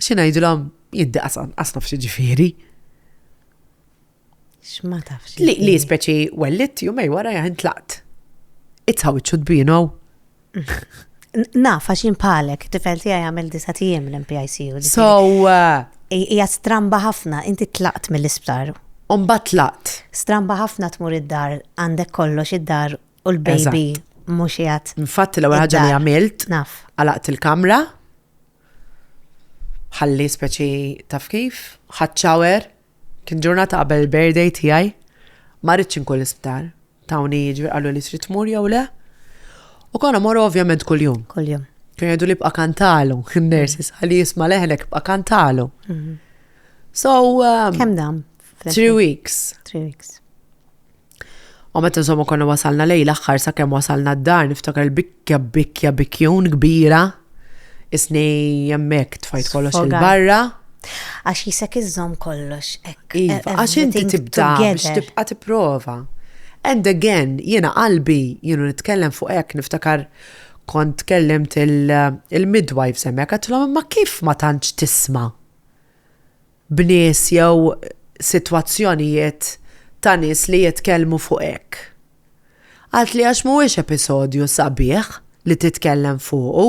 Xi ngħidilhom jiddi qas qas naf x'ġifieri. X'ma tafx. Li li speċi wellit jumej wara jaħin tlaqt. It's how it should be, you know. Naf, għax jien bħalek, tifel tiegħi jagħmel disa tiem l-MPICU. ġifieri So, uh, hi- Hija stramba ħafna, inti tlaqt mill-isptar. umbat tlaqt. Stramba ħafna tmur id-dar, għandek kollox id-dar u l-baby mhux qiegħed. Infatti l-ewwel ħaġa li Id-dar. għamilt, Naf. għalaqt il-kamra, Ħalli speċi taf kif, ħadd shower, kien ġurnata qabel il-birthday tiegħi, ma ridtx inkun l-isptar. Tawni jiġri qalu li trid tmur jew le. U konna morru ovvjament kuljum. Kuljum. Kien jgħidu li bqa' kantalu, in-nurses ħalli jisma' leħnek bqa' kantalu. Mhm. So. um, Kemm dam? Three weeks. Three weeks. U meta insomma konna wasalna lej l-aħħar sakemm wasalna d-dar niftakar il-bikkja bikkja bikkjun kbira isni hemmhekk tfajt kollox il-barra. Għax jisek iżżomm kollox hekk. Iva, għax inti tibda biex tibqa' tipprova. And again, jiena qalbi, jienu nitkellem fuq hekk niftakar kont tkellimt il-midwives hemmhekk għatlhom imma kif ma tantx tisma'? b'nies jew sitwazzjonijiet ta' nies li jitkellmu fuq hekk. Għalt li għax mhuwiex episodju sabiħ li titkellem fuqu.